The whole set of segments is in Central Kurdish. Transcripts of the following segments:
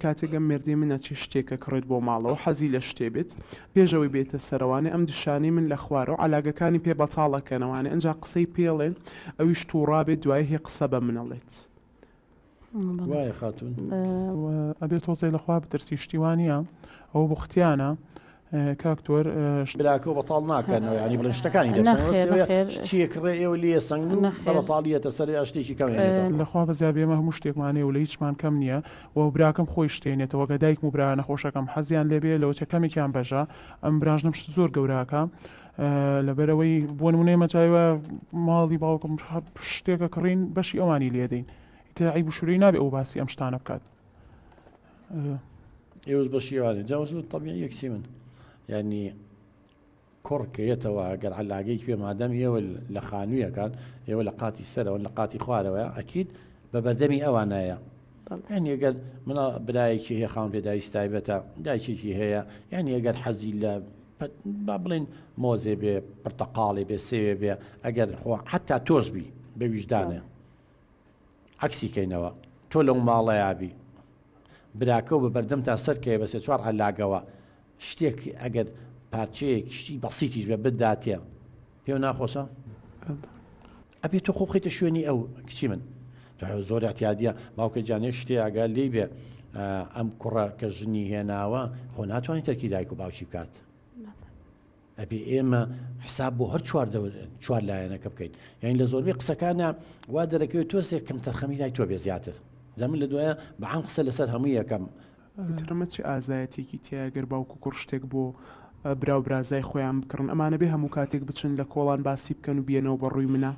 کاتێک ئەم مێردەی من ئەچێ شتێک ئەکڕێت بۆ ماڵەوە حەزی لە شتێ بێت پێش ئەوەی بێتە سەر ئەوانێ ئەم دشانەی من لە خوارەوە عەلاگەکانی پێ بەتاڵ ئەکەن ئەوانێ ئەنجا قسەی پێ ئەڵێن ئەویش توڕا بێت دوایی هی قسە بە من ئەڵێت. وایە خاتون. ئەبێ تۆزێ لە خوا بترسی شتی وا نیە ئەوە بوختیانە. کاک تۆر شتی براکەو بەتاڵ ناکەنەوە یانی بڵێن شتەکانی دەرچن نەخێر بەسەوێ نەخێر شتیە کڕێ ئێوە لێ سەنگن و نەخێر. بەتاڵ یەتە سەر یا شتێکی کەم هێنێتەوە کۆڵ. لەخوا بەزیاد بێ ئێمە هەموو شتێکمان هەیە و لە هیچمان کەم نییە و براکەم خۆی شت هێنێتەوە گە دایکم و برا نەخۆشەکەم حەزیان لێ بێ لەوەچە کەمێکیان بەژە ئەم براش نەم شت زۆر گەورە ئەکا لەبەر ئەوەی بۆ نمونە ئێمە جای وایە ماڵی باوکم هە شتێکە کڕین بەشی ئەوانی لێ دەین ئیتر عەیب و شورەی نابێ ئەو باسی ئەم شتانە بکات ئێوز بە شیوانێ جاوز و طبیعی یەکسی من یعنی کوڕ کە یەتەوە گەر علاگەی پێ مادەم ئێوە لە خانوویەکان ئێوە لە قاتی سەرەوە لە قاتی خوارەوە ئەکییت بە بەردەمی ئەوانایە یان ئەگەر منە برایەکی هەیە خاون پێداویست تایبەتە دایکێکی هەیە یان ئەگەر حەزی لە با بڵێن مۆزێ بێ پرتەقاڵێ بێ سێوێ بێ ئەگەر خۆ حتا تۆش بی بە ویژدانە عەکسی کەینەوە تۆ لەو ماڵەیا بی براکەو بە بەردەمتان سەر کەوێ بە سێ چوار عەلاگەوە شتێک ئەگەر پارچەیەک شتی بەسیتیش بە بداتێ پێو ناخۆشە ئەبێ تۆ خۆ بخیتە شوێنی ئەو کچی من زۆر احتیادە باوکە جانێک شتێ ئەگە لی بێ ئەم کوڕە کە ژنی هێناوە خۆ ناتوانانی تەرکی دایک و باوکی بکات ئەبێ ئێمە حساب بۆ هەر چوار چوار لایەنەکە بکەین یعنی لە زۆربەی قسەکانە وا دەرەکەوێت تۆسێک کەم تەرخەمی لای تۆ بێ زیاتر جا من لە دوایە بەعام قسە لەسەر هەموو یەکەم ترمە چ ئازایەتیەکی تیایە گەر باوک و کوڕ شتێک بۆ برا و برازای خۆیان بکڕن ئەمانە بێ هەموو کاتێک بچن لە کۆڵان باسی بکەن و بیەنەوە بە ڕووی منە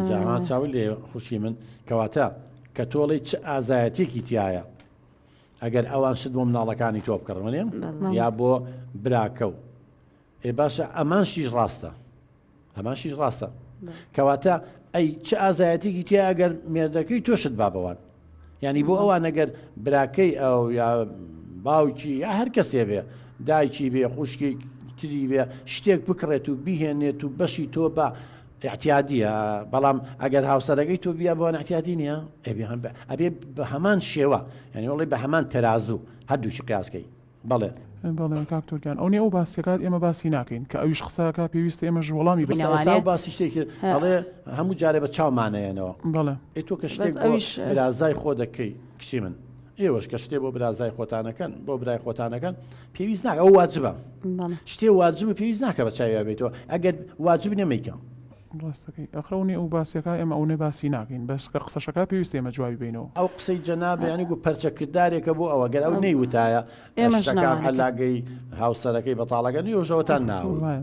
جاها چاوی لێ خوشی من کەواتە کە تۆڵی چ ئازایەتیەکی تایە ئەگەر ئەوان شت بۆ مناڵەکانی تۆ بکڕن وەێ یا بۆ براکە و ئێ باشە ئەمان شیش ڕاستە ئەمان شیش ڕاستە کەواتە ئەی چ ئازایەتێکی تیا ئەگەر مێردەکەی تۆشت با بەوان ینی بۆ ئەوان نەگەر براکەی ئەو یا باوکی یا هەر کەسێ بێ دایکی بێ خوشکی تری بێ شتێک بکڕێت و بیهێنێت و بەشی تۆ بە ئیعتیادیە بەڵام ئەگەر هاوسەرەکەی تۆ بیا بۆن ئەتیادی نیە ئەبێ بە هەمان شێوە یعنی وڵی بە هەمان تەرازوو هەردووشی قیاسکەی بەڵێ بەڵێ کاکتۆرگیان ئەو ئەو باسیەکات ئێمە باسی ناکەین کە ئەویش قساکە پێویستە ئێمە ژوڵامی بەسەوە باسی شتێکی ئەڵێ هەموو جارێ بە چاومانەیەنەوە بەڵێ ئەی تۆ کە شتێک ئەویش رازای خۆ دەکەی کشی من ئێوەش کە شتێ بۆ برازای خۆتانەکەن بۆ برای خۆتانەکەن پێویست ناکە ئەو واجبە شتێ واجب و پێویست ناکە بە چاویا بێتەوە ئەگەر واجب نەمەیکەم ڕاستەکەی ئەخرەونی ئەو باسیەکە ئێمە ئەوەی باسی ناکەین بەس کە قسەشەکە پێویست ئێمە جوابی بینەوە ئەو قسەی جەنابیانی گو پەرچەکردارێکە بۆ ئەوە گەر ئەو نەیوتایە ئێمەشەکان هەلاگەی هاوسەرەکەی بەتاڵەکە نیۆژەوەتان ناوە.